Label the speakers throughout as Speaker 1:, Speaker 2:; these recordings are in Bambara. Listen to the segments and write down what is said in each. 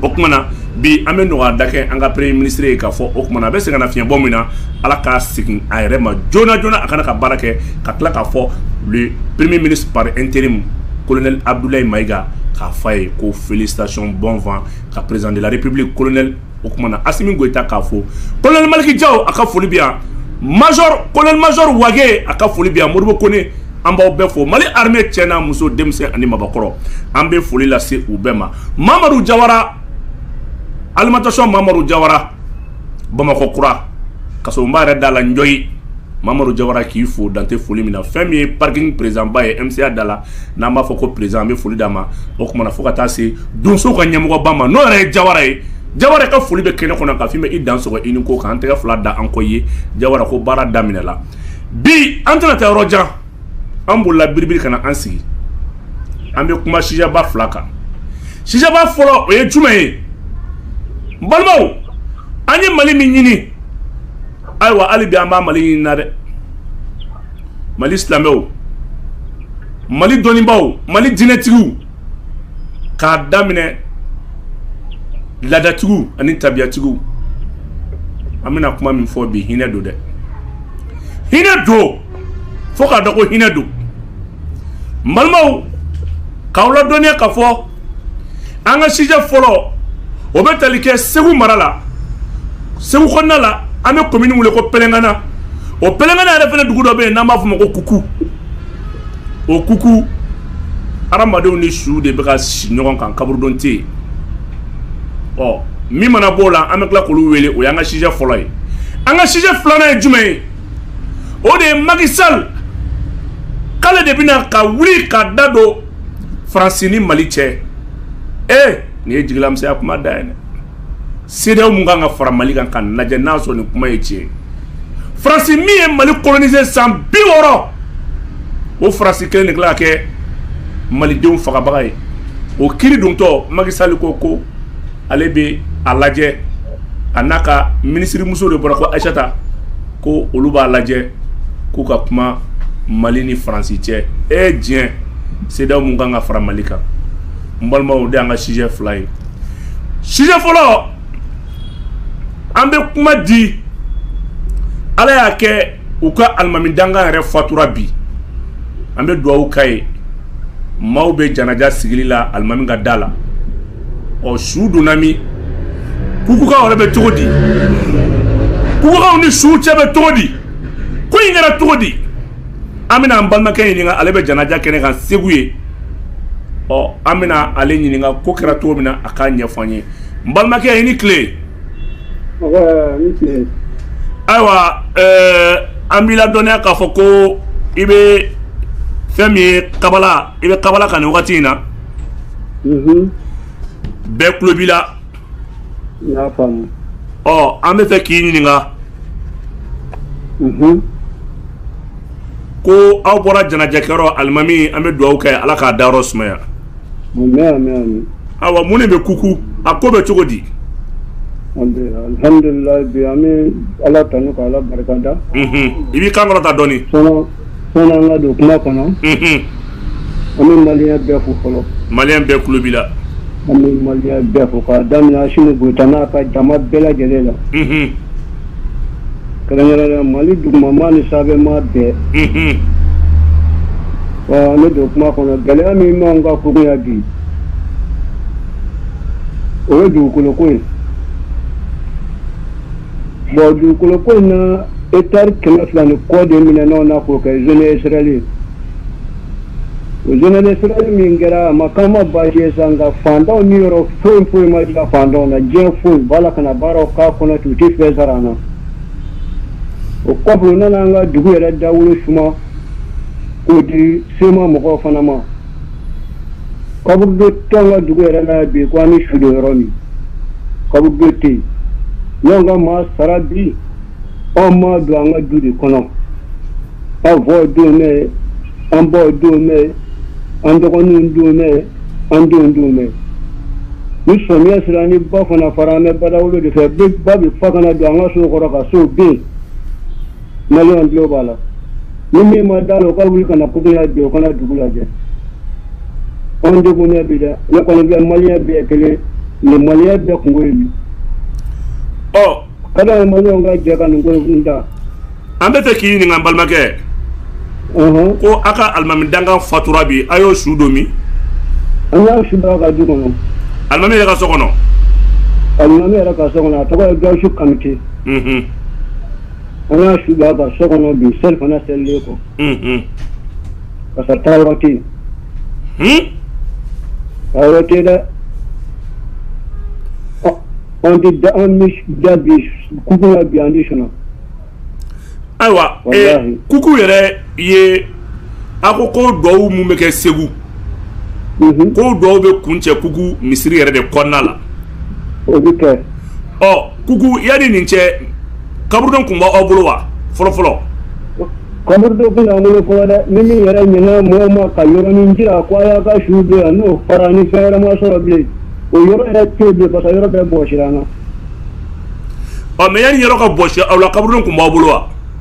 Speaker 1: o kuma na bi an bɛ nɔgɔyada kɛ an ka premier ministre ye k'a fɔ o kuma na a bɛ sɛgɛnnafiɲɛbɔ min na ala k'a segin a yɛrɛ ma joona joona a ka na ka baara kɛ ka tila k'a fɔ le premier ministre par intérim colonel abdoulaye mayiga k'a fɔ a ye ko félicitation bon vent ka président de la république colonel o kuma na asimi goyita k'a fo colonel maliki jaw a ka foli bɛ yan major colonel major wage a ka foli bɛ yan modibo kone an b'aw bɛɛ fo mali armée cɛ n'a muso denmisɛn ani mabakɔrɔ an bɛ foli lase u bɛɛ ma mamadu jawara alimentation mamadu jawara bamakɔ kura kasoba yɛrɛ da la n jɔye mamadu jawara k'i fo dante foli min na fɛn min ye parking présidentba ye MCA da la n'an b'a fɔ ko président an bɛ foli d'a ma o kuma na fo ka taa se donsow ka ɲɛmɔgɔba ma n'o yɛrɛ ye jawara ye jawara ka foli bɛ kɛnɛ kɔnɔ k'a f'i ma i dansɔgɔ i ni ko k'an tɛgɛ fila da an kɔ ye jawara ko baara daminɛ la bi an tɛna taa yɔrɔ jan an bolila biribiri kana an sigi an bɛ kuma sijɛba fila kan sijɛba fɔlɔ o ye jumɛn ye n balimaw an ye mali min ɲini ayiwa hali bi an b'a mali ɲini na dɛ mali silamɛw mali dɔnnibaw mali diinɛtigiw k'a daminɛ laadatigiw ani tabiyatigiw an bɛna kuma min fɔ bi hinɛ don dɛ hinɛ don fo k'a dɔn ko hinɛ don n balimaw k'aw ladɔnniya k'a fɔ an ka sijɛ fɔlɔ o bɛ tali kɛ segu mara la segu kɔnɔna la an bɛ komini min wele ko pɛlɛngana o pɛlɛngana yɛrɛ fana dugu dɔ bɛ yen n'an b'a fɔ o ma ko kuku o kuku hadamadenw ni su de bɛ ka si ɲɔgɔn kan kaburudon tɛ yen ɔ min mana b'o la an bɛ tila k'olu wele o y'an ka sijɛ fɔlɔ ye an ka sijɛ filanan ye jumɛn ye o de ye Macky Sall k'ale de bɛna ka wuli ka da don Faransi ni Mali cɛ ee nin ye jigilamisɛnya kuma dan ye dɛ CEDEAO min kan ka fara Mali kan k'a lajɛ n'a sɔrɔ nin kuma ye tiɲɛ ye Faransi min ye Mali coloniser san bi wɔɔrɔ o Faransi kelen de tila ka kɛ Malidenw fagabaga ye o kiri dontɔ Macky Sall ko ko ale bɛ a lajɛ a n'a ka minisirimuso de bɔra ko ayisata ko olu b'a lajɛ k'u ka kuma mali ni faransi cɛ e diɲɛ CEDEAO min kan ka fara mali kan n balimaw de an ka sijɛ fila ye sijɛ fɔlɔ an bɛ kuma di ala y'a kɛ u ka alimami dankan yɛrɛ fatura bi an bɛ dugawu k'a ye maaw bɛ janaja sigili la alimami ka da la ɔ su donna min kukukaw yɛrɛ bɛ cogo di kukukaw ni su cɛ bɛ cogo di ko in kɛra cogo di an bɛna an balimakɛ ɲininka ale bɛ janaja kɛnɛ kan segu ye ɔ an bɛna ale ɲininka ko kɛra cogo min na a k'a ɲɛfɔ an ye n balimakɛ i ni tile ayiwa eh, an b'i ladɔnniya k'a fɔ ko i bɛ fɛn min ye kabala i bɛ kabala kan nin wagati in na bɛɛ tulo b'i la ɔ an bɛ fɛ k'i ɲininka ko aw bɔra janajakɛyɔrɔ alimami an bɛ dugawu kɛ ala k'a dayɔrɔ sumaya awa mun de bɛ kuku a ko bɛ cogo di alihamdulilayi
Speaker 2: bi an bɛ ala tanu ka ala barikada i b'i kan
Speaker 1: kɔrɔta dɔɔnin
Speaker 2: Sani an ka don kuma kɔnɔ. Unhun. An bɛ maliyɛn bɛɛ fo fɔlɔ. Maliyɛn bɛɛ tulo b'i
Speaker 1: la. An bɛ maliyɛn
Speaker 2: bɛɛ fo k'a daminɛ Asimi Goyita n'a ka jama bɛɛ lajɛlen la. Unhun. Kɛrɛnkɛrɛnnenya Mali dugumamaa ni sanfɛmaa bɛɛ. Unhun. Wa an bɛ don kuma kɔnɔ gɛlɛya min b'anw ka Kuku yan bi o ye dugukoloko ye. Bon dugukolo ko in na hectari kɛmɛ fila ni kɔ de minɛna an na k'o kɛ zone industrielle ye o zone industrielle min kɛra a ma k'an ma baasi ye sa nka fantanw niyɔrɔ foyi foyi ma diya fantanw na diɲɛ foyi u b'a la ka na baaraw k'a kɔnɔ ten u tɛ fɛn sara an na o kɔfɛ u nana an ka dugu yɛrɛ dawolo suma k'o di sema mɔgɔw fana ma Kaburudo t'an ka dugu yɛrɛ la bi ko an bɛ su don yɔrɔ min kaburudo tɛ yen n'anw ka maa sara bi anw b'a don an ka du de kɔnɔ an faw donnen bɛ yen an baw donnen bɛ yen an dɔgɔninw donnen bɛ yen an denw donnen bɛ yen ni samiya sera ni ba fana fara an bɛ badawolo de fɛ ba bɛ fa ka na don an ka sow kɔrɔ ka sow bin Maliyɛnw tulo b'a la, ni min ma d'a la, o ka wuli ka na Kuku yan bi, o ka na dugu lajɛ. Anw degunnen bi dɛ, ne kɔni bɛ Maliyɛn bɛɛ ye kelen ye, nin Maliyɛn bɛɛ kunko ye nin ye. Ɔ! Ka d'a ye Maliyɛnw ka jɛ ka nin ko in ta. An bɛ fɛ
Speaker 1: k'i ɲininka n balimakɛ. Ɔnhɔn! Ko aw ka alimami dankan fatura bi, a y'o su don min? An y'a
Speaker 2: su don a ka du kɔnɔ. Alimami yɛrɛ ka so
Speaker 1: kɔnɔ? Alimami
Speaker 2: yɛrɛ ka so kɔnɔ, a tɔgɔ ye Gawusu Kanute. Unhun! An y'a su bila a ka so kɔnɔ bi seli fana selilen kɔ parce que taayɔrɔ tɛ yen taayɔrɔ tɛ yen dɛ an tɛ da an bɛ da bi kuku la bi an tɛ
Speaker 1: sunaa ayiwa kuku yɛrɛ ye a ko ko dugawu minnu bɛ kɛ segu mhm. ko dɔw bɛ kuncɛ kuku misiri yɛrɛ de kɔnɔna
Speaker 2: la ɔ kuku
Speaker 1: yanni nin cɛ kaburudo tun b'aw bolo wa fɔlɔfɔlɔ kaburudo
Speaker 2: tun b'an bolo fɔlɔ dɛ ni min yɛrɛ ɲɛna mɔgɔw ma ka yɔrɔnin jira ko a y'a ka su don yan n'o fara ni fɛn wɛrɛ ma sɔrɔ bilen o yɔrɔ yɛrɛ tɛ yen bilen parce que yɔrɔ bɛɛ bɔsira an na ɔ mais yanni yɔrɔ ka
Speaker 1: bɔsi aw la kaburudo tun b'aw bolo wa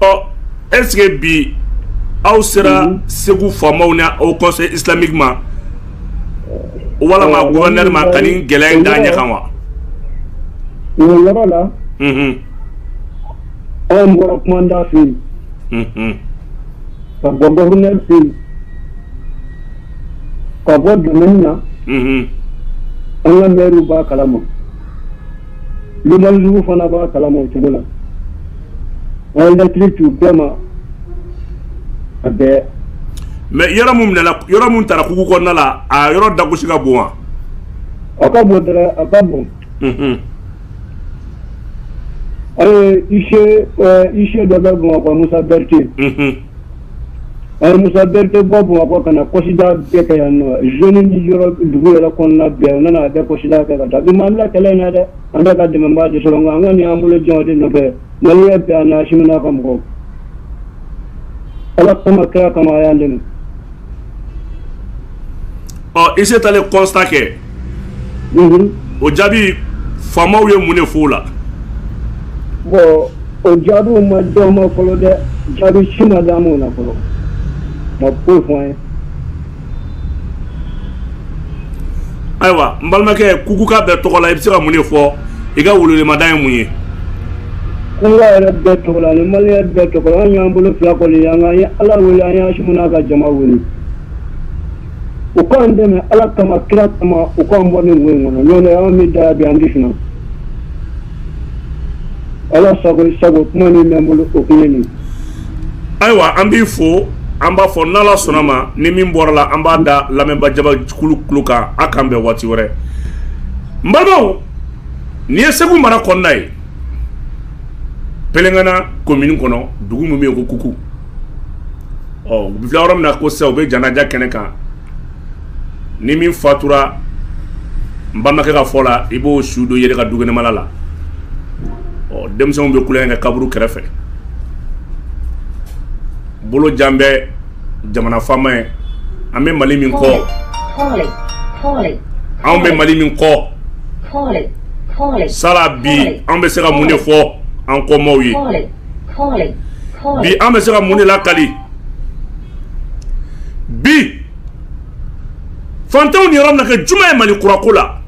Speaker 1: ɔ est-ce que bi aw sera mhm. segu faamaw ni haut conseil islamique ma walama gouverneur ma ka nin gɛlɛya in d'a ɲɛ kan wa.
Speaker 2: o yɔrɔ la. Mhm. anw bɔra kumandan fɛ yen. Mhm. ka bɔ gouverneur fɛ yen ka bɔ domaine na. an ka maire b'a kalama. Limanjugu fana b'a kalama o cogo la an ye lɛtiri c'u bɛɛ ma a bɛɛ mais yɔrɔ
Speaker 1: min minɛna yɔrɔ min tara kuku kɔnɔna la a yɔrɔ dagosi ka bon wa a
Speaker 2: ka bon dɛ a ka bon unhun an ye huissier ɛɛ huissier dɔ bɛ Bamakɔ Musa Berete unhun An ye Musa Berete bɔ Bamakɔ ka na constat bɛɛ kɛ yan nɔ zone ni yɔrɔ dugu yɛrɛ kɔnɔna bɛɛ u nana a bɛɛ constat kɛ ka taa bi m'an bila kɛlɛ in na dɛ an tɛ ka dɛmɛbaa de sɔrɔ nka an kɔni y'an bolo jɛn o de nɔfɛ maliyɛn bɛɛ an'Asimi n'a ka mɔgɔw Ala kama kira kama a y'an dɛmɛ
Speaker 1: ɔ huissier taalen constat kɛ o jaabi faamaw ye mun de f'o la
Speaker 2: bon o jaabiw ma d'an ma fɔlɔ dɛ jaabi si ma d'an m'o la fɔlɔ ma foyi fɔ an ye ayiwa n balimakɛ
Speaker 1: kukuka bɛɛ tɔgɔ la i bɛ se ka mun de fɔ i ka welewelemada ye mun ye
Speaker 2: Kukuka yɛrɛ bɛɛ tɔgɔ la ni maliyɛn bɛɛ tɔgɔ la an y'an bolo fila kɔni yan ye ala wele an ye Asimi n'a ka jama wele u k'an dɛmɛ ala kama kira kama u k'an bɔ nin ko in kɔnɔ n'o tɛ an bɛ da bi an tɛ sunɔgɔ ala sago sago kuma min bɛ n bolo o ye nin ye
Speaker 1: ayiwa an b'i fo an b'a fɔ n'ala sɔnna ma ni min bɔra la an b'a da lamɛnbaa jamakulu tulo kan a k'an bɛn waati wɛrɛ n Nin ye segu mara kɔnɔna ye pelengana komini kɔnɔ dugu min bɛ yen ko kuku ɔ u bɛ filɛ yɔrɔ min na ko sa u bɛ janaja kɛnɛ kan ni min fatura n balimakɛ ka fɔ la i b'o su don yɛrɛ ka dukɛnɛmala la ɔ denmisɛnw bɛ tulonkɛ kɛ kaburu kɛrɛfɛ bolo jan bɛ jamana faama ye an bɛ mali min kɔ anw bɛ mali min kɔ sala bi an bɛ se ka mun de fɔ an kɔmaw ye bi an bɛ se ka mun de lakali bi fantanw niyɔrɔ bɛna kɛ jumɛn ye mali kura ko la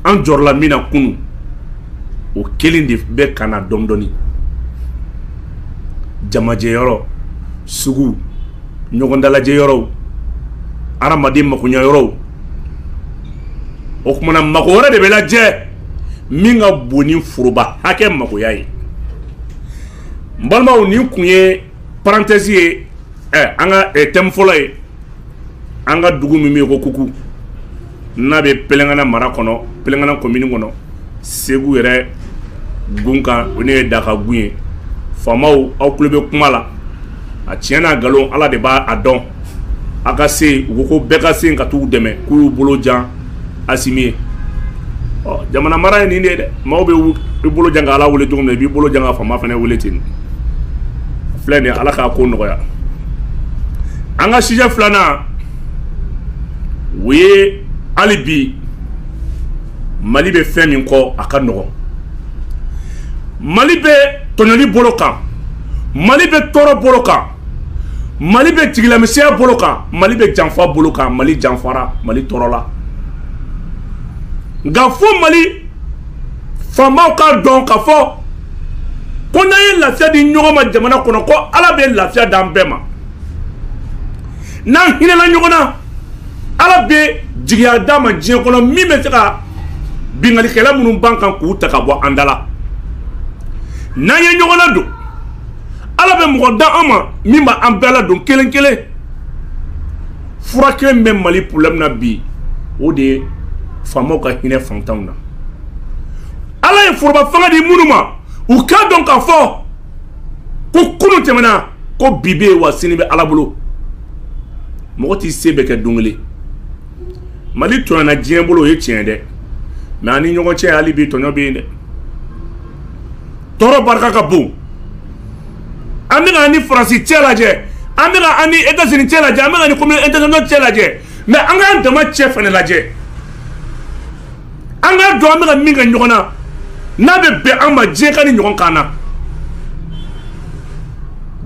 Speaker 1: an jɔrɔla min na kunun o kelen de bɛ ka na dɔɔni dɔɔni jamajɛyɔrɔ sugu ɲɔgɔndalajɛyɔrɔw hadamaden makoɲɛyɔrɔw o kumana mago wɛrɛ de bɛ lajɛ min ka bon ni foroba hakɛ magoya ye n balimaw nin kun ye parenthèse ye ɛ an ka thème fɔlɔ ye an ka dugu min bɛ yen ko Kuku n'a bɛ Pelengana mara kɔnɔ Pelengana commune kɔnɔ Segu yɛrɛ gun kan o de ye Daka gun ye faamaw aw tulo bɛ kuma la a tiɲɛ n'a nkalon Ala de b'a dɔn a ka se u ko bɛɛ ka se ka taa u dɛmɛ k'u y'u bolo jan asimi ye ɔ jamana mara ye nin de dɛ maaw bɛ i bolo jan ka ala wele cogo min i b'i bolo jan ka faama fana wele ten filɛ nin ye ala k'a ko nɔgɔya an ka sujet filanan o ye hali bi mali bɛ fɛn min kɔ a ka nɔgɔn mali bɛ tɔɲɔli bolo kan mali bɛ tɔɔrɔ bolo kan mali bɛ jigilamisɛnya bolo kan mali bɛ janfa bolo kan mali janfara mali tɔɔrɔla nka fo mali faamaw k'a dɔn k'a fɔ ko n'an ye lafiya di ɲɔgɔn ma jamana kɔnɔ ko ala bɛ lafiya d'an bɛɛ ma n'an hinɛna ɲɔgɔn na ala bɛ jigiya d'an ma diɲɛ kɔnɔ min bɛ se ka binkannikɛla minnu b'an kan k'u ta ka bɔ an da la n'an ye ɲɔgɔn ladon ala bɛ mɔgɔ d'an ma min b'an bɛɛ ladon kelen kelen fura kelen bɛ mali problème na bi o de ye faamaw ka hinɛ fantanw na ala ye foroba fanga di minnu ma u k'a dɔn k'a fɔ ko kunu tɛmɛna ko bi bɛ yen wa sini bɛ ala bolo mɔgɔ t'i se bɛɛ kɛ don kelen mali tɔɲɔna diɲɛ bolo o ye tiɲɛ dɛ mais an ni ɲɔgɔn cɛ hali bi tɔɲɔ bɛ yen dɛ tɔɔrɔ barika ka bon an bɛ ka an ni faransi cɛ lajɛ an bɛ ka an ni États-Unis cɛ lajɛ an bɛ ka an ni communauté internationale cɛ lajɛ mais an k'an dama cɛ fana lajɛ an k'a dɔn an bɛ ka min kɛ ɲɔgɔn na n'a bɛ bɛn an ma diɲɛ ka ni ɲɔgɔn kan na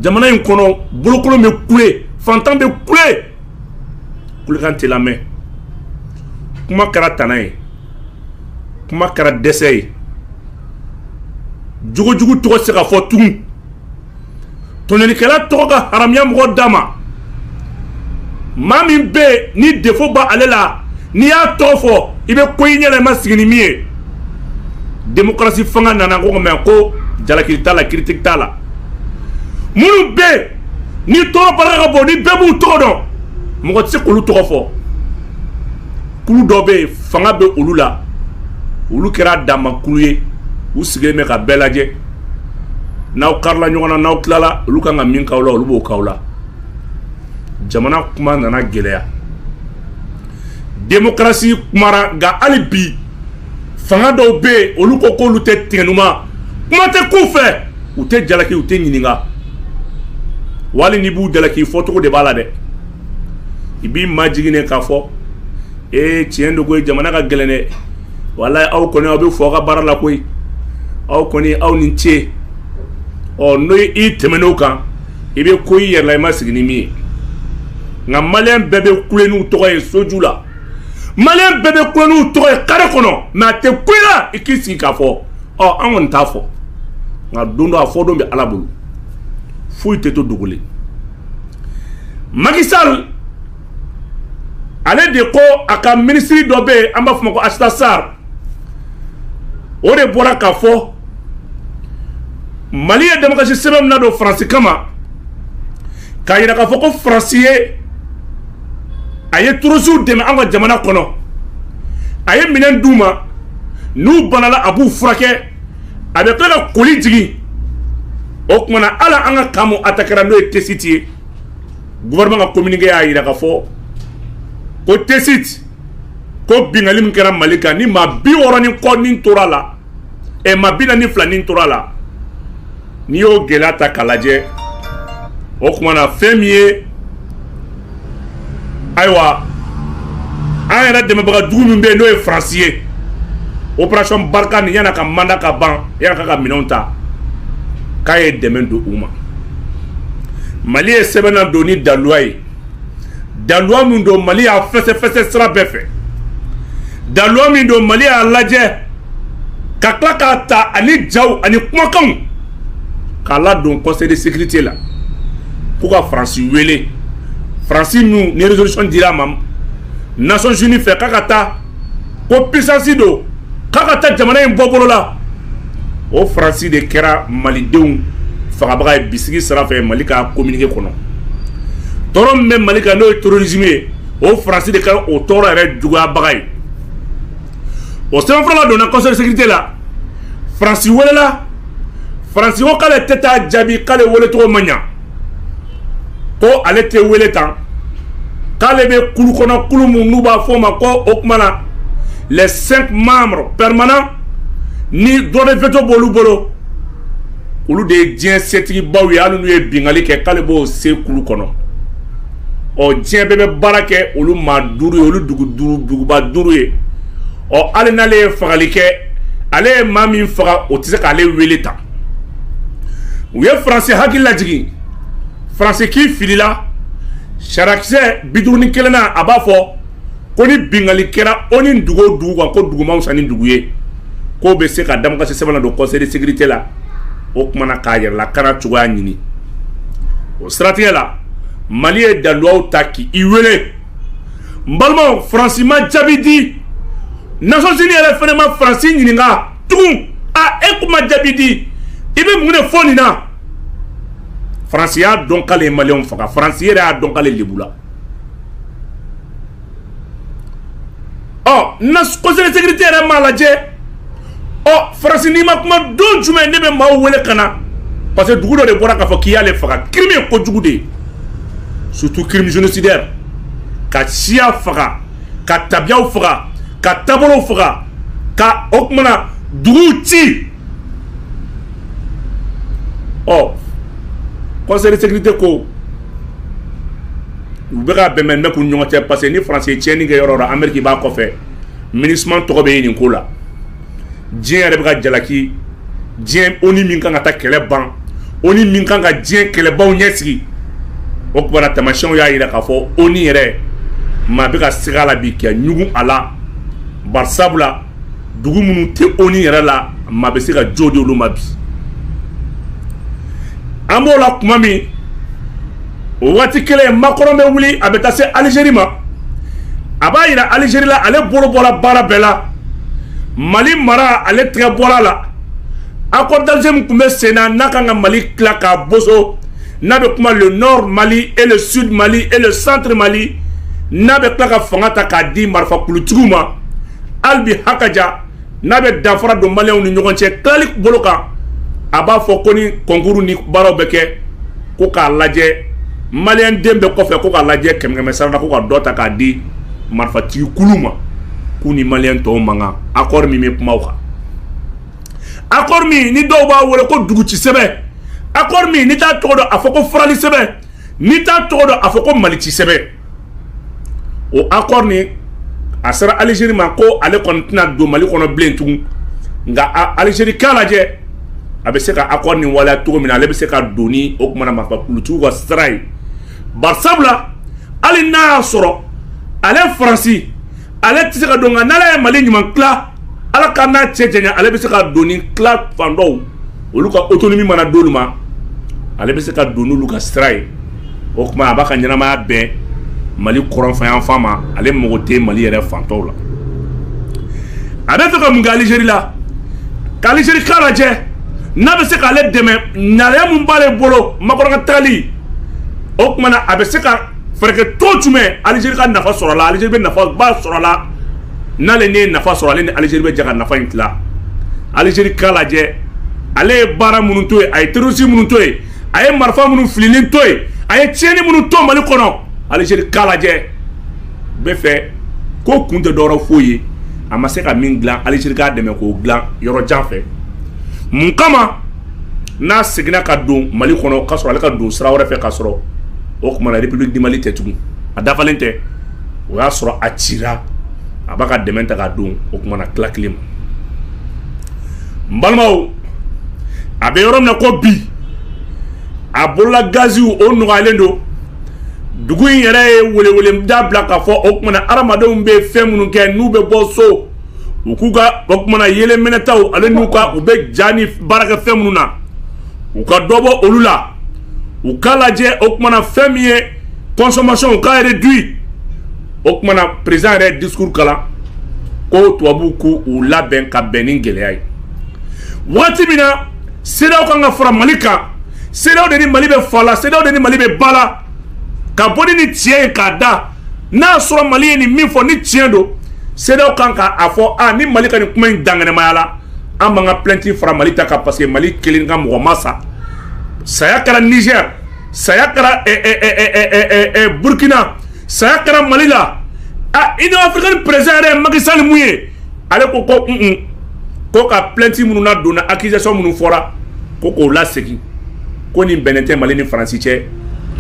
Speaker 1: jamana in kɔnɔ bolokolon bɛ kule fantan bɛ kule kulekan tɛ lamɛn, kuma kɛra tana ye, kuma kɛra dɛsɛ ye, jogo jugu tɔgɔ tɛ se ka fɔ tugun, tɔɲɔlikɛla tɔgɔ ka haramuya mɔgɔ da ma, maa min bɛ yen ni defaut bɛ ale la, n'i y'a tɔgɔ fɔ, i bɛ ko i ɲɛ la, i ma sigi ni min ye, democratie fanga nana ko mais ko jalaki t'a la, critique t'a la, minnu bɛ yen ni tɔɔrɔ barika ka bon ni bɛɛ b'u tɔgɔ dɔn mɔgɔ tɛ se k'olu tɔgɔ fɔ kulu dɔ bɛ yen fanga bɛ olu la olu kɛra damakulu ye u sigilen bɛ ka bɛɛ lajɛ n'aw karila ɲɔgɔn na n'aw tilala olu kan ka min k'aw la olu b'o k'aw la jamana kuma nana gɛlɛya demokarasi kumara nka hali bi fanga dɔw bɛ yen olu ko k'olu tɛ tigɛnuma kuma tɛ k'u fɛ u tɛ jalaki u tɛ ɲininka wali n'i b'u jalaki fɔcogo de b'a la dɛ i b'i majigin de k'a fɔ ee tiɲɛ don koyi jamana ka gɛlɛn dɛ walayi aw kɔni aw bɛ fɔ aw ka baara la koyi aw kɔni aw ni ce ɔ n'i tɛmɛn'o kan i bɛ ko i yɛrɛ la i ma sigi ni min ye nka maliyɛn bɛɛ bɛ kule n'u tɔgɔ ye soju la maliyɛn bɛɛ bɛ kule n'u tɔgɔ ye kare kɔnɔ mɛ a tɛ ko i la i k'i sigi k'a fɔ an kɔni t'a fɔ nka don dɔ a fɔ don bɛ ala bolo foyi tɛ to dogolen maki sali ale de ko a ka minisiri dɔ bɛ yen an b'a fɔ a ma ko ayisata sari o de bɔra k'a fɔ mali ye damasi sɛbɛn min nadon faransi kama k'a jira k'a fɔ ko France ye a ye terrorisiw dɛmɛ an ka jamana kɔnɔ a ye minɛn d'u ma n'u banala a b'u furakɛ a bɛ tila ka koli jigin o tuma na ala an ka camp min atakera n'o ye tesiti ye gouvernement ka communiqué y'a jira k'a fɔ ko tesiti ko bingali min kɛra mali kan ni maa bi wɔɔrɔ ni kɔ ni tora a la ɛ maa bi naani ni fila ni tora a la n'i y'o gɛlɛya ta k'a lajɛ o tuma na fɛn min ye ayiwa an yɛrɛ dɛmɛbaga jugu min bɛ yen n'o ye faransi ye operation barikani yann'a ka manda ka ban yann'a k'a ka minɛnw ta k'a ye dɛmɛ don u ma mali ye sɛbɛn nadon ni daluwa ye daluwa min don mali y'a fɛsɛfɛsɛ sira bɛɛ fɛ daluwa min don mali y'a lajɛ ka tila k'a ta ani jaw ani kumakanw k'a ladon conseil de sécurité la ko ka faransi wele faransi min ni résolution dira a ma nations unies fɛ k'a ka taa ko puissance don k'a ka taa jamana in bɔ bolo la o faransi de kɛra malidenw fagabaga ye bisigi sira fɛ mali ka communiqué kɔnɔ tɔɔrɔ min bɛ mali kan n'o ye terrorisme ye o faransi de kɛra o tɔɔrɔ yɛrɛ juguyabaga ye o sɛbɛnfura ladonna conseil de sécurité la faransi welela faransi ko k'ale tɛ taa jaabi k'ale wele cogo man ɲɛ ko ale tɛ wele tan k'ale bɛ kulu kɔnɔ kulu min n'u b'a fɔ o ma ko o tuma na les cinq membres permanents ni droit de veto b'olu bolo olu de ye diɲɛ setigibaw ye hali n'u ye bingali kɛ k'ale b'o se kulu kɔnɔ ɔ diɲɛ bɛɛ bɛ baara kɛ olu maa duuru ye olu duguba duuru ye ɔ hali n'ale ye fagali kɛ ale ye maa min faga o tɛ se k'ale wele tan u ye faransi hakili lajigin faransi k'i filila sariyakisɛ bi duuru ni kelen na a b'a fɔ ko ni bingali kɛra onu dugu o dugu kan ko dugu man wusa ni dugu ye k'o bɛ se ka damakasi sɛbɛn ladon conseil de sécurité la o tuma na k'a yɛrɛ lakana cogoya ɲini o siratigɛ la mali ye daluwaw ta k'i wele n balimaw faransi ma jaabi di nations unies yɛrɛ fana ma faransi ɲininka tugun a e kuma jaabi di i bɛ mun de fɔ nin na faransi y'a dɔn k'ale ye maliyɛnw faga faransi yɛrɛ y'a dɔn k'ale lebula conseil de sécurité yɛrɛ m'a lajɛ ɔ faransi n'i ma kuma don jumɛn ne bɛ maaw wele ka na parce que dugu dɔ de bɔra k'a fɔ k'i y'ale faga crime ye kojugu de ye surtout crime génocidaire ka siya faga ka tabiyaw faga ka taabolow faga ka o tuma na dugu ci ɔ conseil de sécurité ko u bɛ ka bɛnbɛn bɛ' ɲɔgɔn cɛ parce que ni faransi ye tiɲɛni kɛ yɔrɔ la ameriki b'a kɔfɛ minusma tɔgɔ bɛ yen nin ko la diɲɛ yɛrɛ bɛ ka jalaki diɲɛ onu min kan ka taa kɛlɛ ban onu min kan ka diɲɛ kɛlɛbaw ɲɛsigi o tuma na taamasiyɛnw y'a jira k'a fɔ onu yɛrɛ maa bɛ ka siga a la bi ka ɲugun a la bari sabula dugu minnu tɛ onu yɛrɛ la maa bɛ se ka jo di olu ma bi an b'o la tuma min o waati kelen makɔrɔn bɛ wuli a bɛ taa se alizeri ma a b'a jira alizeri la ale bolo bɔra baara bɛɛ la mali mara ale tɛgɛ bɔra la accord d'alger min tun bɛ sen na n'a kan ka mali tila k'a boso n'a bɛ kuma le nord mali et le sud mali et le centre mali n'a bɛ tila ka fanga ta k'a di marifa kulutigiw ma hali bi hakaja n'a bɛ danfara don maliyɛnw ni ɲɔgɔn cɛ tilali bolo kan a b'a fɔ ko ni kɔnkuru ni baaraw bɛ kɛ ko k'a lajɛ maliyɛn den bɛɛ kɔfɛ ko k'a lajɛ kɛmɛkɛmɛ sara la ko ka dɔ ta k'a di marifatigi kulu ma k'u ni maliyɛn tɔw man kan accord min bɛ kuma o kan accord min ni dɔw b'a wele ko dugu ci sɛbɛn accord min n'i t'a tɔgɔ dɔn a fɔ ko farali sɛbɛn n'i t'a tɔgɔ dɔn a fɔ ko mali ci sɛbɛn o accord ni a sera aliziri ma ko ale kɔni tɛna don mali kɔnɔ bilen tugun nka aliziri k'a lajɛ a bɛ se ka accord nin waleya cogo min na ale bɛ se ka don ni o tuma na marifa kulutigiw ka sira ye bari sabula hali n'a y'a sɔrɔ ale faransi ale tɛ se ka don nka n'ale ye mali ɲuman tila ala k'an n'a cɛ janya ale bɛ se ka don ni tila fan dɔw olu ka autonomie mana d'olu ma ale bɛ se ka don n'olu ka sira ye o tuma a b'a ka ɲɛnamaya bɛn mali kɔrɔnfɛyanfan ma ale mago tɛ mali yɛrɛ fan tɔw la a bɛ fɛ ka mun kɛ alizeri la ka alizeri k'a lajɛ n'a bɛ se k'ale dɛmɛ ŋaniya min b'ale bolo makɔrɔn ka taali o tuma a bɛ se ka Fɛɛrɛ kɛ cogo jumɛn Algérie ka nafa sɔrɔ a la, Algérie bɛ nafa ba sɔrɔ a la, n'ale ni ye nafa sɔrɔ, ale ni Algérie bɛ jɛ ka nafa in tila. Algérie k'a lajɛ, ale ye baara minnu to yen, a ye terroristes minnu to yen, a ye marifa minnu fililen to yen, a ye tiɲɛni minnu to Mali kɔnɔ, Algérie k'a lajɛ, n bɛ fɛ k'o kun tɛ dɔwɛrɛ foyi ye, a ma se ka min dilan, Algérie k'a dɛmɛ k'o dilan yɔrɔ jan fɛ. Mun kama? n'a seginna ka don Mali kɔnɔ k'a sɔrɔ ale ka don sira wɛrɛ fɛ k'a sɔrɔ o tuma na République du Mali tɛ tugun a dafalen tɛ o y'a sɔrɔ a cira a b'a ka dɛmɛ ta k'a don o tuma na tila kelen ma n balimaw a bɛ yɔrɔ min na ko bi a bolola gaziw o nɔgɔyalen don dugu in yɛrɛ ye welewele da bila k'a fɔ o tuma na hadamadenw bɛ fɛn minnu kɛ n'u bɛ bɔ so u k'u ka o tuma na yeelen mɛnɛtaw ale n'u ka u bɛ ja ni baarakɛ fɛn minnu na u ka dɔ bɔ olu la u k'a lajɛ o tuma na fɛn min ye consommation u k'a réduit o tuma na président yɛrɛ discours kalan ko tubabuw k'u labɛn ka bɛn nin gɛlɛya ye waati min na CEDEAO kan ka fara mali kan CEDEAO de ni mali bɛ fa la CEDEAO de ni mali bɛ ba la ka bɔ ni tiɲɛ ye k'a da n'a y'a sɔrɔ mali ye nin min fɔ ni tiɲɛ don CEDEAO kan k'a fɔ a ni mali ka nin kuma in dankɛnɛmaya la an b'an ka plainte fara mali ta kan parce que mali kelen ka mɔgɔ ma sa saya kɛra Niger saya kɛra eh, eh, eh, burkina saya kɛra mali la a union africaine président yɛrɛ ye Macky Sall mun ye ale ko ko an ka plɛnti minnu na donna akizasɔn minnu fɔra ko k'o lasegin ko nin bɛnnen tɛ mali ni faransi cɛ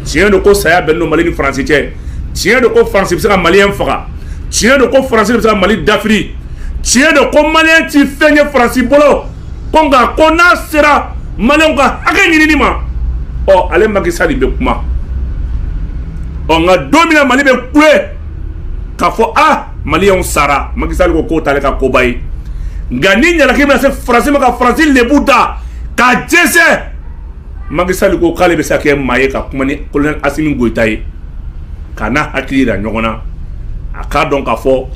Speaker 1: tiɲɛ don ko saya bɛnnen don mali ni faransi cɛ tiɲɛ don ko faransi bɛ se ka maliyɛn faga tiɲɛ don ko faransi bɛ se ka mali dafiri tiɲɛ don ko maliyɛn ti fɛn ye faransi bolo ko nka ko n'a sera maliyɛnw ka hakɛ ɲinini ma ɔ ale makisali bɛ kuma ɔ nka don min na mali bɛ kule k'a fɔ a maliyɛnw sara makisali ko k'o t'ale ka koba ye nka ni ɲalaki bɛna se faransi ma ka faransi lebu da k'a jɛnsɛn makisali ko k'ale bɛ se ka kɛ maa ye ka kuma ni kolonɛli asimi goyita ye k'a n'a hakili yira ɲɔgɔn na a k'a dɔn k'a fɔ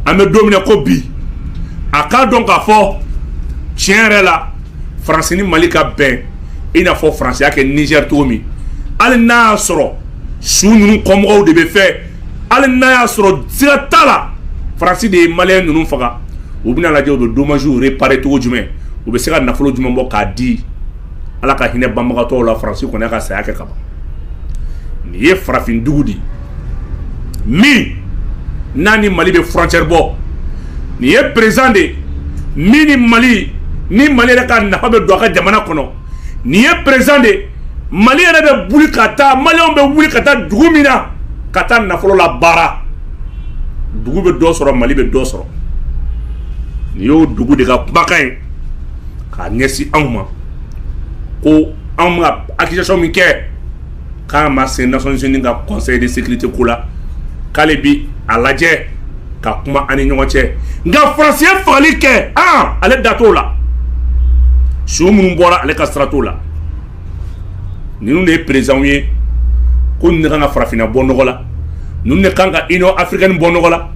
Speaker 1: an bɛ don min na ko bi a k'a dɔn k'a fɔ tiɲɛ yɛrɛ la faransi ni mali ka bɛn i n'a fɔ faransi y'a kɛ nizɛri cogo min hali n'a y'a sɔrɔ su ninnu kɔmɔgɔw de bɛ fɛ hali n'a y'a sɔrɔ siga t'a la faransi de ye maliyɛn ninnu faga u bɛn'a lajɛ u bɛ domaziw repare cogo jumɛn u bɛ se ka nafolo jumɛn bɔ k'a di ala ka hinɛ banbagatɔw la faransi kɔni y'a ka saya kɛ ka ban nin ye farafindugu de ye min n'a ni mali bɛ furɔncɛri bɔ nin ye perezidan de ye min ni mali ni mali yɛrɛ ka nafa bɛ don a ka jamana kɔnɔ nin ye perezidan de ye mali yɛrɛ bɛ wuli ka taa maliyɛnw bɛ wuli ka taa dugu min na ka taa nafolo labaara dugu bɛ dɔ sɔrɔ mali bɛ dɔ sɔrɔ nin y'o dugu de ka kumakan ye k'a ɲɛsin anw ma ko anw ka akizasɔn min kɛ k'a ma se nations unies ka conseil de sécurité ko la k'ale bi a lajɛ ka kuma an ni ɲɔgɔn cɛ nka faransi ye fagali kɛ ale da t'o la su minnu bɔra ale ka sira t'o la ninnu de ye perezidanw ye ko ninnu de kan ka farafinna bɔ nɔgɔ la ninnu de kan ka union africaine bɔ nɔgɔ la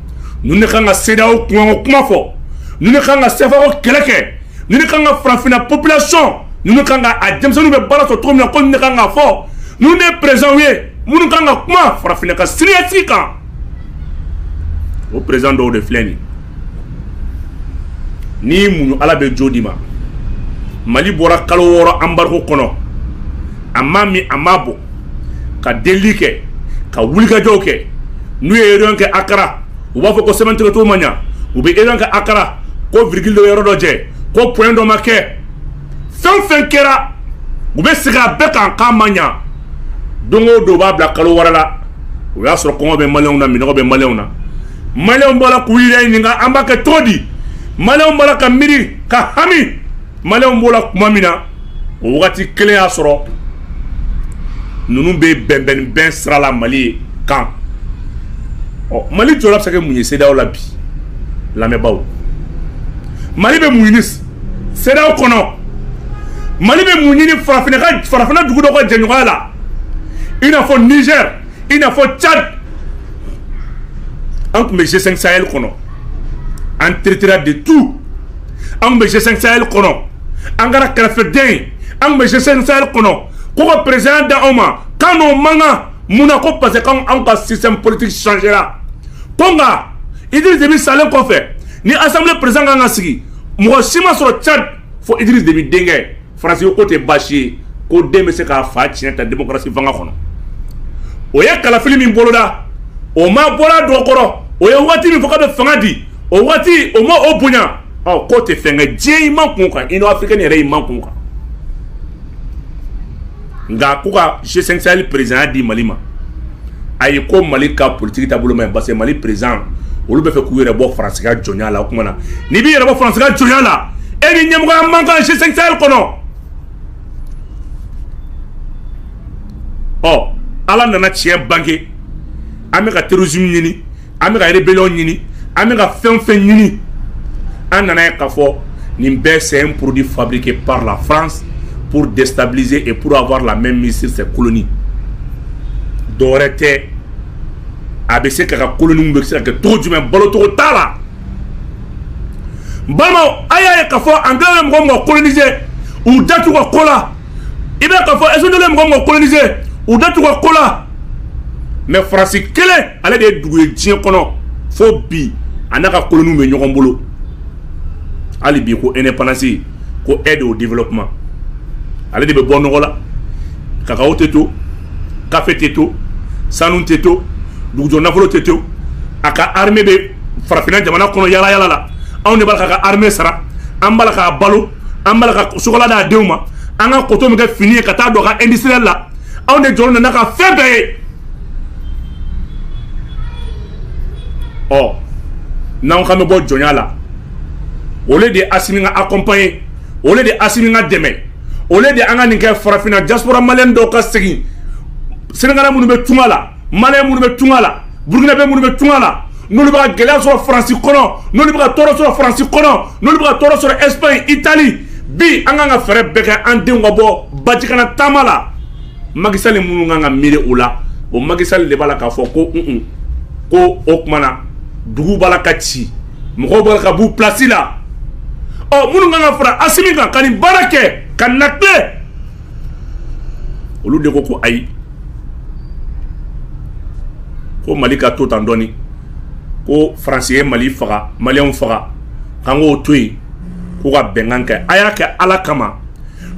Speaker 1: ninnu de kan ka sedeyawo kuma kuma fɔ ninnu de kan ka sefa ko kɛlɛ kɛ ninnu de kan ka farafinna population ninnu de kan ka a denmisɛnninw bɛ baara sɔrɔ cogo min na ko ninnu de kan k'a fɔ ninnu de ye président ye minnu kan ka kuma farafinna ka siniɲɛsigi kan o président dɔw de filɛ nin n'i muɲu ala bɛ jo d'i ma mali bɔra kalo wɔɔrɔ embargo kɔnɔ a ma min a ma bɔ ka delili kɛ ka wulikajɔw kɛ n'u ye réunion kɛ akara u b'a fɔ ko sɛbɛntigɛcogo ma ɲa u bɛ réunion kɛ akara ko virgule dɔ yɔrɔ dɔ jɛ ko point dɔ ma kɛ fɛn fɛn kɛra u bɛ segin a bɛɛ kan k'a ma ɲa don o don u b'a bila kalo wɛrɛ la o y'a sɔrɔ kɔngɔ bɛ maliyɛnw na minnɔgɔ bɛ maliyɛnw na maliyɛnw b'a la k'u yɛrɛ ɲininka an b'a kɛ cogo di maliyɛnw b'a la ka miiri ka hami Maliw b'o la kuma min na o waati kelen y'a sɔrɔ ninnu bɛ bɛnbɛn bɛn sira la mali ye kan ɔ mali jɔyɔrɔ bɛ se ka kɛ mun ye CEDEAO la bi lamɛnbagaw mali bɛ mun ɲini CEDEAO kɔnɔ mali bɛ mun ɲini farafinna dugu dɔ ka jɛɲɔgɔnya la i n'a fɔ nizɛri i n'a fɔ cadi an tun bɛ G5 Sahel kɔnɔ an traitera de tout Anw bɛ G5 Sahel kɔnɔ, an kɛra kɛrɛfɛden ye, anw bɛ G5 Sahel kɔnɔ, ko ka presidentya di anw ma k'an n'o man kan, mun na ko parce que ko anw ka système politique changera, ko nka Idriss Deby salen kɔfɛ ni assemblée president ka kan ka sigi, mɔgɔ si ma sɔrɔ Tchad fo Idriss Deby denkɛ Faransi k'o tɛ baasi ye ko den bɛ se k'a fa tiɲɛ ta démocratie fanga kɔnɔ o ye kalafili min boloda o ma bɔ a dɔgɔ kɔrɔ o ye waati min fɔ k'a bɛ fanga di o waati o ma o bonya ɔ k'o tɛ fɛn kɛ diɲɛ i makun kan Union africaine yɛrɛ i makun kan nka ko ka G5 Sahel presidentya di mali ma ayi ko mali ka politigi taabolo man ɲi parce que mali president olu b'a fɛ k'u yɛrɛ bɔ faransi ka jɔnya la o kuma na n'i b'i yɛrɛ bɔ faransi ka jɔnya la e ni ɲɛmɔgɔya man kan G5 Sahel kɔnɔ ɔ ala nana tiɲɛ bange an bɛ ka terrorisme ɲini an bɛ ka rébellion ɲini an bɛ ka fɛn fɛn ɲini an nan'a ye k'a fɔ nin bɛɛ c'est un produit fabriqué par la France pour déstabiliser et pour avoir la mainmise sur ses colonies dɔwɛrɛ tɛ a bɛ se k'a ka koloniw bɛ se ka kɛ cogo jumɛn balo cogo t'a la balimaw a y'a ye k'a fɔ anglais ye mɔgɔ o mɔgɔ coloniser u da t'u ka ko la i bɛ k'a fɔ espagnol ye mɔgɔ o mɔgɔ kolonise u da t'u ka ko la mɛ faransi kelen ale de ye dugu ye diɲɛ kɔnɔ fo bi a n'a ka koloniw bɛ ɲɔgɔn bolo hali bi ko indépendance ko aide au développement ale de bɛ bɔ nɔgɔ la kakawo tɛ to kafe tɛ to sanu tɛ to dugujukɔrɔ nafolo tɛ to a ka armée bɛ farafinna jamana kɔnɔ yaalayaala la anw de b'a ka armée sara an b'a k'a balo an b'a la ka chocolat d'a denw ma an ka coton min kɛ fini ye ka taa don a ka industriel la anw de jɔlen bɛ n'a ka fɛn bɛɛ ye ɔ n'an k'an bɛ bɔ jɔnya la o le de ye asimi ka accompagner o le de ye asimi ka dɛmɛ o le de ye an ka nin kɛ farafinna diaspora maliyɛn dɔw ka segin senegalais minnu bɛ tunga la maliyɛn minnu bɛ tunga la burukinabe minnu bɛ tunga la n'olu bɛ ka gɛlɛya sɔrɔ faransi kɔnɔ n'olu bɛ ka tɔɔrɔ sɔrɔ faransi kɔnɔ n'olu bɛ ka tɔɔrɔ sɔrɔ ɛsipaɲi itali bi an kan ka fɛɛrɛ bɛɛ kɛ an denw ka bɔ bajikana taama la Macky Sall minnu kan ka miiri o la o Macky Sall de b'a la k'a fɔ ko un ko o tuma na dugu b'a la ka ci mɔgɔw b'a la ka b'u pilasi la ɔ minnu kan ka fara asimi kan ka nin baara kɛ kanate olu de ko ko ayi ko mali ka to tan dɔɔni ko faransi ye mali faga maliyɛnw faga k'an k'o to yen k'u ka bɛnkan kɛ a y'a kɛ ala kama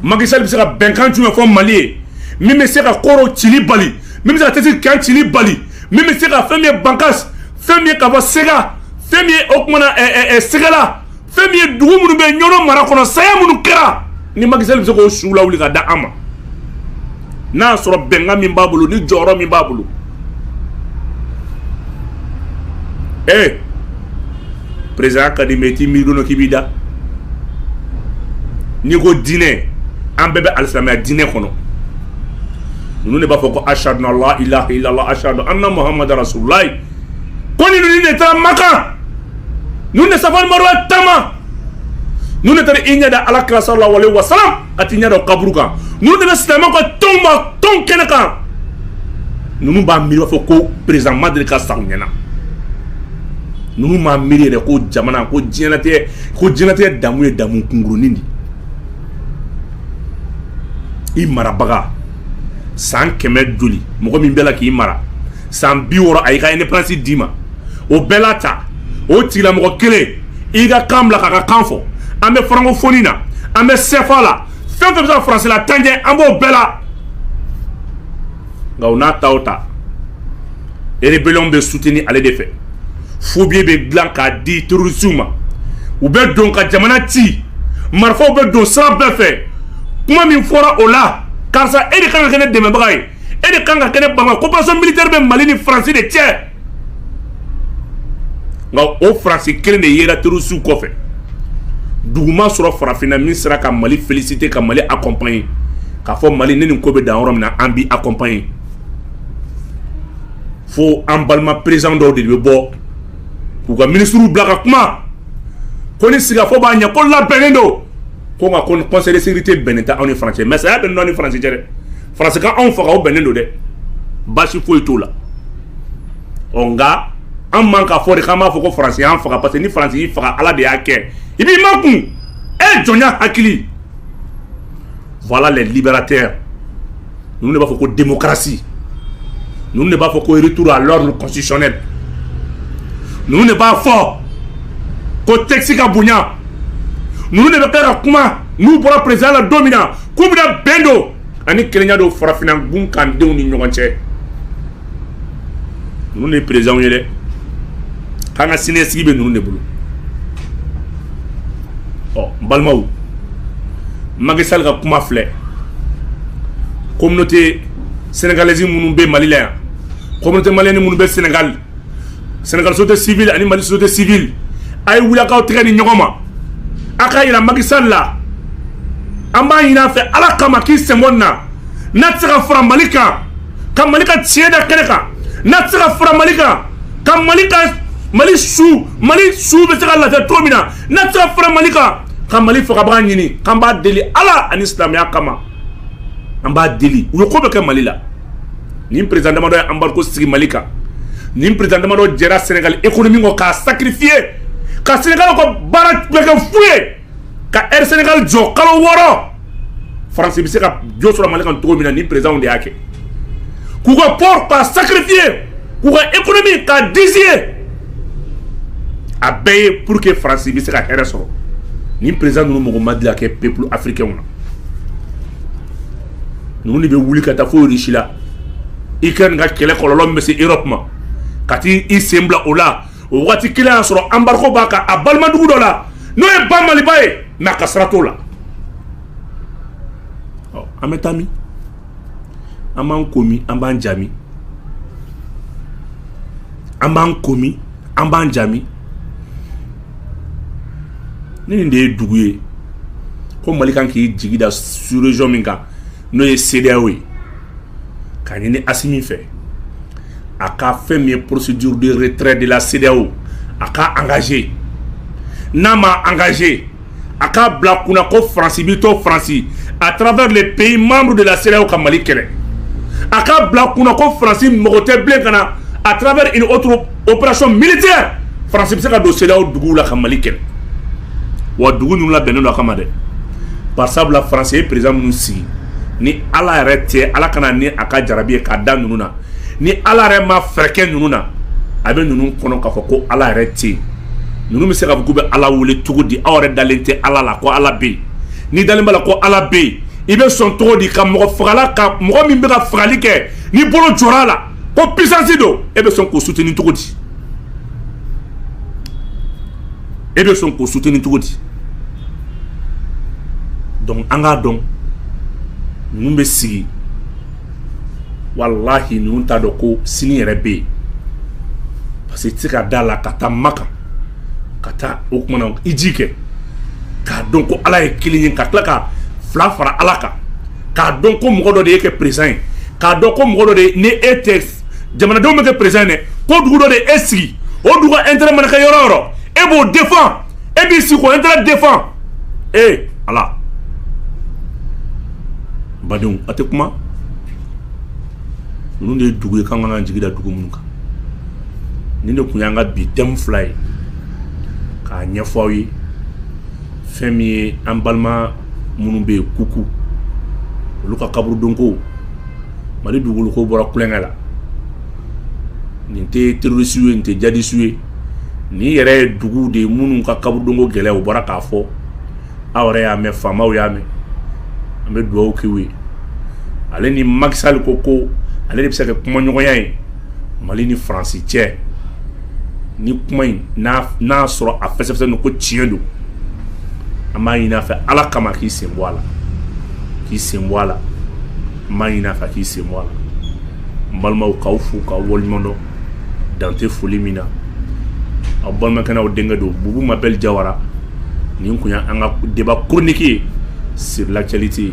Speaker 1: Macky Sall bɛ se ka bɛnkan jumɛn fɔ mali ye min bɛ se ka koro cili bali min bɛ se ka tɛsi kan cili bali min bɛ se ka fɛn min ye bankas fɛn min ye ka fɔ sega fɛn min ye o kumana sɛgɛla fɛn min ye dugu minnu bɛ ɲɔnɔ mara kɔnɔ saya minnu kɛra ni Macky Sall bɛ se k'o suw lawuli ka da an ma n'a y'a sɔrɔ bɛnkan min b'a bolo ni jɔyɔrɔ min b'a bolo ee président ka di mais i t'i miiri don k'i b'i da n'i ko diinɛ an bɛɛ bɛ alisilamaya diinɛ kɔnɔ ninnu de b'a fɔ ko ashadu an la ilaha illallah ashadu anna muhammadan rasululayi ko ni ninnu de taara makan ninnu de safa ni maruwa taama ninnu de taara i ɲɛ da ala kira sallallahu alaihi wa sallam ka t'i ɲɛ da kaburu kan ninnu de bɛ silamɛw ka tɔnw ma tɔn kɛnɛ kan ninnu b'a miiri b'a fɔ ko président ma deli ka sa u ɲɛna ninnu m'a miiri yɛrɛ ko jamana ko diɲɛlatigɛ damu ye damu kunkurunin de i marabaga san kɛmɛ joli mɔgɔ min bɛ la k'i mara san bi wɔɔrɔ a y'i ka indépendance d'i ma o bɛɛ la ta o tigilamɔgɔ kelen i ka kan bila k'a ka kan fɔ an bɛ francophonie na an bɛ CFA la fɛn fɛn bɛ se ka faransi lataa ɲɛ an b'o bɛɛ la nka o n'a ta o ta rébellion bɛ soutenir ale de fɛ faux billets bɛ dilan k'a di terrorisiw ma u bɛ don ka jamana ci marifaw bɛ don sira bɛɛ fɛ kuma min fɔra o la karisa e de kan ka kɛ ne dɛmɛbaga ye e de kan ka kɛ ne bama coopération militaire bɛ mali ni faransi de cɛ nka o faransi kelen de yera terrorisiw kɔfɛ dugu ma sɔrɔ farafinna min sera ka mali féliciter ka mali accompagner k'a fɔ mali ne nin ko bɛ dan yɔrɔ min na an b'i accompagner fo an balima président dɔw de bɛ bɔ k'u ka ministriw bila ka kuma ko ni sigikafɔ b'a ɲɛ ko labɛnnen don ko nka ko conseil de sécurité bɛnnen tɛ aw ni faransi cɛ mais saya bɛnnen ni faransi cɛ dɛ faransi ka anw faga o bɛnnen don dɛ baasi foyi t'o la ɔ nka an man k'a fɔ de k'an b'a fɔ ko faransi y'an faga parce que ni faransi y'i faga ala de y'a kɛ i b'i makun e jɔnya hakili voilà les libérateurs ninnu de b'a fɔ ko démocratie ninnu de b'a fɔ ko retour à l'ordre constitutionnel ninnu de b'a fɔ ko texte ka bonya ninnu de bɛ kɛ ka kuma n'u bɔra président la don min na k'u bɛna bɛn don ani kelenya don farafinna gun kan denw ni ɲɔgɔn cɛ ninnu de ye présidentw ye dɛ k'an ka siniɲɛsigi bɛ ninnu de bolo ɔ n balimaw Macky Sall ka kuma filɛ communauté sénégalaise minnu bɛ Mali la yan communauté malienne minnu bɛ Sénégal Sénégal société civile ani mali société civile a ye wuli k'aw tɛgɛ di ɲɔgɔn ma a k'a yira Macky Sall la an b'a ɲini a fɛ ala kama k'i sen bɔ nin na n'a tɛ se ka fara mali kan ka mali ka tiɲɛ da kɛnɛ kan n'a tɛ se ka fara mali kan ka mali ka mali su mali su bɛ se ka lafiya cogo min na n'a tɛ se ka fara mali kan ka mali fagabaga ɲini k'an b'a deli ala ani silamɛya kama an b'a deli u ye ko bɛ kɛ mali la nin président damadɔ ye embargo sigi mali kan nin président damadɔ jɛra Sénégal économie kɔ k'a sacrifier ka Sénégal ka baara bɛɛ kɛ fu ye ka Air Sénégal jɔ kalo wɔɔrɔ faransi bɛ se ka jo sɔrɔ mali kan cogo min na nin présidentw de y'a kɛ k'u ka port k'a sacrifier k'u ka économie k'a dizi ye a bɛɛ ye pour que faransi bɛ se ka hɛrɛ sɔrɔ nin président ninnu mɔgɔ ma dilan kɛ peuple africainw na ninnu de bɛ wuli ka taa fo Russie la Ukraine ka kɛlɛ kɔlɔlɔ min bɛ se Europe ma ka t'i sen bila o la o waati kelen y'a sɔrɔ embargo b'a kan a balimadugu dɔ la n'o ye ba Maliba ye mais a ka sira t'o la ɔ an bɛ taa min an b'an ko min an b'an ja min an b'an ko min an b'an ja min ni nin de ye dugu ye ko mali kan k'i jigi da sous-région min kan n'o ye CEDEAO ye k'a ɲini Assimi fɛ a ka fɛn min ye procédure de retrait de la CEDEAO a k'a engager n'a ma engagé a k'a bila kunna ko France b'i to France à travers les pays membres de la CEDEAO ka Mali kɛlɛ a k'a bila kunna ko France mɔgɔ tɛ bilen ka na à travers une autre opération militaire faransi bɛ se ka don CEDEAO duguw la ka mali kɛlɛ wa dugu ninnu labɛnnen don a kama dɛ par sabula faransi ye président minnu sigi ni ala yɛrɛ tɛ ala kana ni a ka jarabi ye k'a da ninnu na ni ala yɛrɛ ma fɛɛrɛ kɛ ninnu na a bɛ ninnu kɔnɔ k'a fɔ ko ala yɛrɛ tɛ ninnu bɛ se k'a fɔ k'u bɛ ala wele cogo di aw yɛrɛ dalen tɛ ala la ko ala bɛ yen n'i dalen b'a la ko ala bɛ yen i bɛ sɔn cogo di ka mɔgɔ fagala ka mɔgɔ min bɛ ka fagali kɛ ni bolo jɔra a la ko puissance don e bɛ sɔn k'o soutenir cogo di e bɛ sɔn k'o soutenir cogo di donc an k'a dɔn ninnu bɛ sigi walahi ninnu t'a dɔn ko sini yɛrɛ bɛ yen parce que i tɛ se ka d'a la ka taa Makan ka taa o tuma na hiji kɛ k'a dɔn ko Ala ye kelen ye ka tila ka fila fara Ala kan. k'a dɔn ko mɔgɔ dɔ de y'e kɛ président ye k'a dɔn ko mɔgɔ dɔ de ni e tɛ jamanadenw m'e kɛ président ye dɛ ko dugu dɔ de e sigi o dugu ka intérêt mana kɛ yɔrɔ o yɔrɔ e b'o défend e b'i sigi k'o intérêt défend ee ala badenw a tɛ kuma ninnu de ye dugu ye k'an k'an jigi da dugu minnu kan nin de tun y'an ka bi thème fila ye k'a ɲɛfɔ aw ye fɛn min ye an balima minnu bɛ yen kuku olu ka kaburudonko mali dugukolokow bɔra kukɛ la nin tɛ terorisiw ye nin tɛ jihadisiw ye nin yɛrɛ ye dugu de ye minnu ka kaburudonko gɛlɛya o bɔra k'a fɔ aw yɛrɛ y'a mɛn faamaw y'a mɛn an bɛ dugawu k'u ye ale ni maki sali ko ko ale de bɛ se ka kɛ kumaɲɔgɔnya ye mali ni faransi cɛ ni kuma in n'a sɔrɔ a fɛsɛfɛsɛ don ko tiɲɛ don an b'a ɲini a fɛ ala kama k'i sen bɔ a la k'i sen bɔ a la n b'a ɲini a fɛ k'i sen bɔ a la n balimaw k'aw fo k'aw waleɲumandɔn dan tɛ foli min na aw balimakɛ n'aw denkɛ don bubu mabɛli jawara nin kun y'an ka deba koroniki ye sur l'actualité